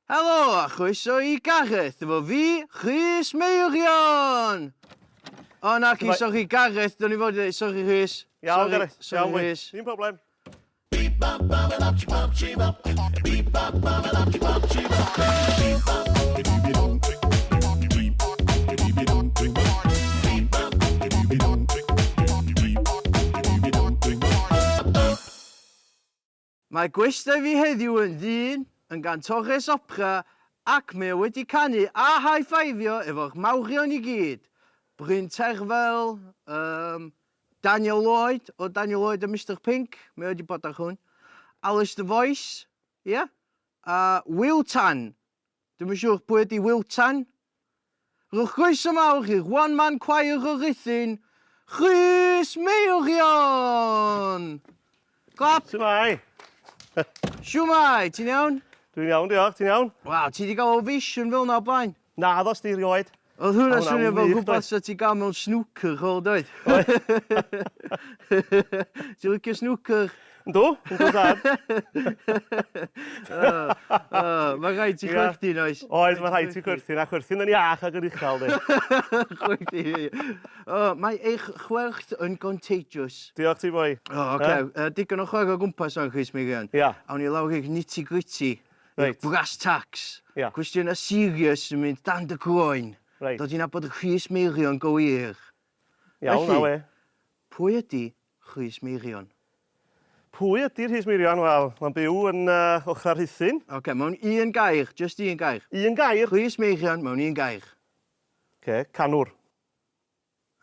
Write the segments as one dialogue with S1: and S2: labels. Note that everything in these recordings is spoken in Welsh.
S1: Helo a chroeso i Gareth, efo fi, Rhys Meirion! O, naci, Shwmae? sori Gareth, do'n i fod i ddeud, sori Rhys.
S2: Iawn, Sori- Gareth,
S1: sori, iawn, mwy. Rhys. Dim problem. Mae gwestai fi heddiw yn ddyn, yn gantores opera ac mae o wedi canu a high-fiveio efo'r mawrion i gyd, Bryn Terfel, um, Daniel Lloyd, o Daniel Lloyd a Mister Pink, mae o wedi bod ar hwn, Alys the Voice, ia, yeah? a Wil Tan, Dwi'm yn siŵr pwy ydi Wil Tan. Rhowch groeso mawr i'r One Man Choir o Ruthun, Rhys Meirion! Clap! Shwmae! Shwmae, ti'n iawn? Dwi'n iawn, diolch, ti'n
S2: iawn? Waw, ti 'di ga'l ovation
S1: fel 'na o blaen? Naddo, 'sti rioed.
S2: Oedd hwnna'n swnio
S1: fel rhywbeth sa
S2: ti'n
S1: gael mewn snwcer chwel doedd? Oedd. Ti'n licio snwcer? Yndw, yndw dad. Mae rhaid ti chwerthin oes? Oes, mae rhaid ti chwerthin,
S2: a chwerthin yn iach ac yn uchel di. chwerthin.
S1: Mae eich chwerth yn contagious. Diolch ti boi.
S2: O, oce. Digon
S1: o chwer o gwmpas o'n Chris Meirion. Ia. Awn ni lawr i'r
S2: nitty
S1: gritty. Reit. Brass
S2: tacks.
S1: Ia. Cwestiynau
S2: serious
S1: yn mynd dan dy groen. Reit. Dod i nabod
S2: Rhys
S1: Meirion go wir. Iawn, Felly,
S2: awe.
S1: Pwy
S2: ydy
S1: Rhys Meirion? Pwy
S2: ydy Rhys Meirion? Wel, mae'n byw yn uh, Ochrau Rhuthun. Oce, okay, mewn un
S1: gair, just un gair. Un gair? Rhys
S2: Meirion mewn un
S1: gair. Oce, okay,
S2: canwr.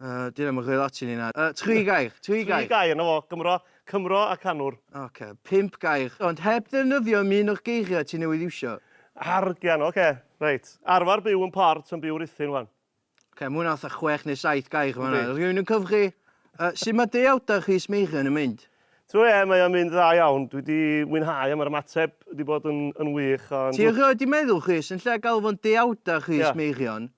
S1: Uh, Dyn am ymchwil ati ni na. Uh, tri gair, tri gair. Tri gair, na fo,
S2: Gymro, Cymro a canwr. Oce, okay. pimp gair.
S1: Ond heb ddefnyddio am un o'r geiriau ti newydd iwsio. Argian, oce,
S2: okay. reit. Arfer byw yn port yn byw rithyn, wan. Oce, okay, mwyn atha
S1: chwech neu saith gair, wan. Rwy'n yn cyfri. Uh, sut mae deuawdau Rhys Meirion yn mynd? Tro e, mae o'n mynd
S2: dda iawn. Dwi wedi mwynhau am yr ymateb wedi bod yn, yn wych. Ond... Ti erioed wedi meddwl,
S1: Rhys, yn lle gael fo'n deuawdau Rhys yeah. Meirion,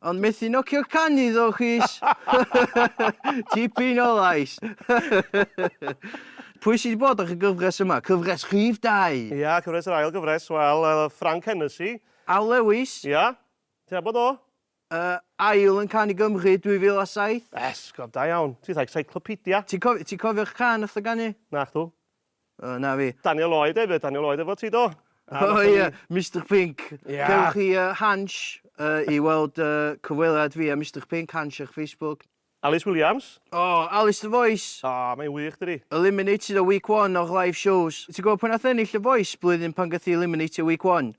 S2: Ond methu nocio
S1: can iddo chys tipyn o lais. Pwy sydd wedi bod ar y gyfres yma? Cyfres rhif dau. Ia, cyfres yr ail
S2: gyfres, wel, yy Frank Hennessy. Al Lewis.
S1: Ia, ti'n
S2: nabod o? Yy, ail
S1: yn can i Gymru 2007. Esgob, da
S2: iawn. Ti fatha 'cyclopedia'. Ti'n cof- ti'n cofio'r
S1: can nath o ganu? Nacdw.
S2: O, na fi.
S1: Daniel Lloyd hefyd, Daniel
S2: Lloyd efo ti do? O oh, ie, yeah.
S1: Mr Pink. Yeah. Cewch chi uh,
S2: Hans
S1: uh, i weld uh, cyfweliad fi a Mr Pink, Hans ar Facebook. Alice Williams.
S2: O, oh, Alice the
S1: Voice. O, oh, mae'n wych dydi.
S2: Eliminated o week
S1: one o'ch live shows. Ti'n gwybod pan nath ennill y Voice blwyddyn pan gath i eliminated week one?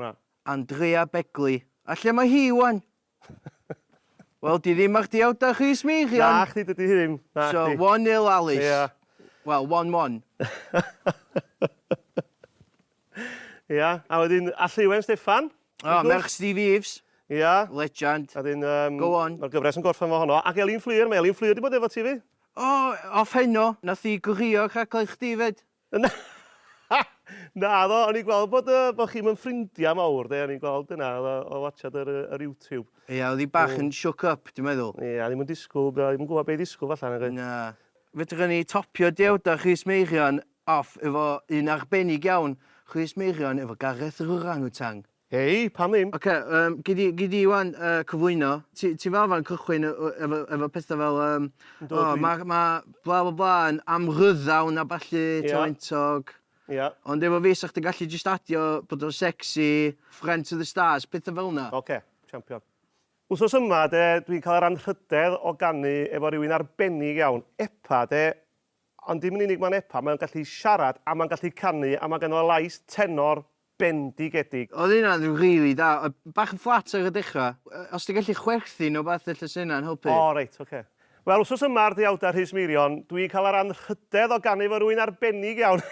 S2: Na. Andrea
S1: Begley. A lle mae hi ŵan? Wel, 'di ddim ar dy awdach chdi ers meichion! Nachdi, dydi
S2: hi ddim. Nachdi. So, one nil Alys.
S1: Ia. Wel,
S2: one
S1: one.
S2: Ia, a wedyn Allywen Steffan. O, merch Steve
S1: Eaves. Ia. Legend.
S2: A wedyn
S1: yym... Go on.
S2: Ma'r gyfres yn
S1: gorffen efo honno.
S2: Ac Elin Fflur, mae Elin Fflur 'di bod efo ti 'fyd. O, off heno,
S1: nath hi gworio rhaglen chdi 'fyd. Na!
S2: Naddo, o'n i'n gweld bod yy bod chi'm yn ffrindia mawr de, o'n i'n gweld hynna o o watsiad yr yy yr YouTube. Ia, oedd hi bach yn
S1: shook up, dwi'n meddwl. Ia, ddim yn disgwyl,
S2: ddim yn gwybod be' i ddisgwyl falla nag oedd? Na. Fedrwn
S1: ni topio Dewda Chris Meirion off efo un arbennig iawn, Chris Meirion efo Gareth yr Orang Utang. Hei, pam ddim?
S2: Ocê, yym, gei di, gei
S1: di ŵan, yy, cyflwyno. Ti, ti fel arfer yn cychwyn y- y- efo, efo pethau fel, yym, Yndw, O, dwi- mae, mae bla bla bla yn amryddawn a ballu, Ie. talentog. Ie. Ond efo
S2: fi, 'sa chdi'n
S1: gallu jyst adio bod o'n sexy, friend to the stars, pethau fel 'na. Ocê, champion.
S2: Wsos yma, de, dwi'n cael yr anrhydedd o ganu efo rywun arbennig iawn. Epa, de, ond dim yn unig mae'n epa, mae'n gallu siarad, a mae'n gallu canu, a mae ganddo lais tenor Bendigedig. Oedd hynna yn rili
S1: da. Oedd bach yn fflat ar y dechrau. Os ti'n gallu chwerthin neu rywbeth ella 'sa hynna'n helpu. O reit, ocê.
S2: Wel, wsos yma ar Deuawdau Rhys Meirion, dw i'n cael yr anrhydedd o ganu efo rywun arbennig iawn!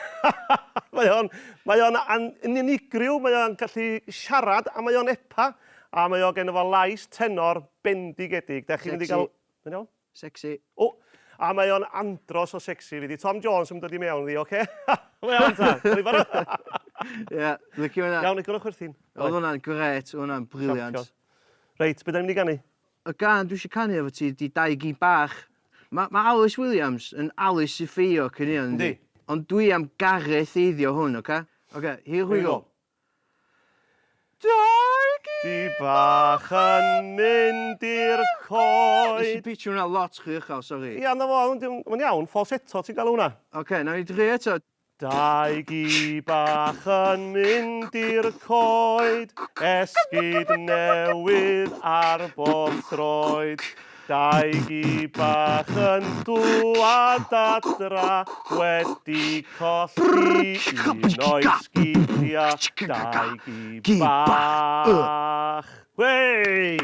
S2: Mae o'n, mae o'n an- yn unigryw, mae o'n gallu siarad a mae o'n epa, a mae o geno fo lais tenor bendigedig. Dach chi'n mynd i
S1: gael...
S2: Sexy. Mae'n iawn? Sexy. O! A mae o'n andros o sexy fi di Tom Jones yn dod i mewn ddi oce? Go iawn ta? Dwi di barod? Ie,
S1: licio hynna. Iawn, agorwch chwerthin. Oedd
S2: hwnna'n grêt,
S1: oedd hwnna'n briliant. Reit, be da ni'n
S2: mynd i ganu? Y gân dwi eisiau
S1: canu efo ti ydi Dau Gi Bach. Mae ma Alys Williams yn Alys Sifio cyn hynna, yndi? Yndi. Ond dwi
S2: am
S1: Gareth eiddio hwn, oce? Oce, here we go. Dau gi bach
S2: yn mynd i'r coed.
S1: Nes i pitsio
S2: hwnna lot rhy
S1: uchel, sori. Ia, na fo, ond
S2: mae'n iawn, falsetto ti'n galw hwnna. Ocê, nawn ni drio eto.
S1: Dau gi
S2: bach yn mynd i'r coed, esgid newydd ar bob troed. Dau gi bach yn dŵad adra wedi colli un o'i sgidia, dau gi bach. Wey!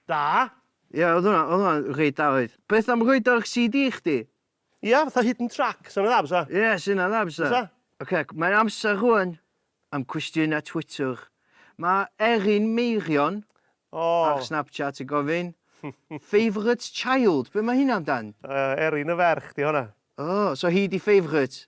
S2: Da! Ie oedd
S1: hwnna oedd hwnna'n reit da oedd. Beth am rhoid o ar CD chdi? Ia, fatha hidden
S2: track, sa hwnna dda bysa? Ie, sa hynna'n dda bysa. Bysa?
S1: Ocê, mae'n
S2: amser
S1: rŵan am cwestiynau Twitter. Mae Erin Meirion O! ar Snapchat
S2: yn gofyn,
S1: Favourite child, be mae hynna amdan? Yy, Erin y ferch
S2: 'di honna. O, so hi 'di
S1: favourite?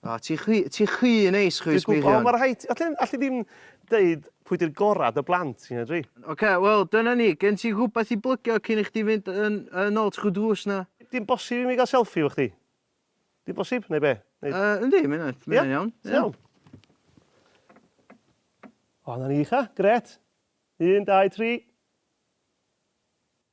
S2: O, ti chwi, ti
S1: chwi yn neis, chwi Dwi'n gwybod, ond mae rhaid ti... Alli,
S2: alli
S1: ddim
S2: deud pwy di'r gorau dy blant ti, na dwi? Ocê, wel, dyna
S1: ni. Gen ti rhywbeth i blygio cyn i chdi fynd yn, yn ôl trwy drws 'na? Dim bosib i mi gael
S2: selfie efo chdi? Dim bosib, neu be? Neu... Uh, yndi, mae hynna'n
S1: Ie? iawn.
S2: Ti'n iawn? O, na ni, cha. Gret. Un, dau, tri.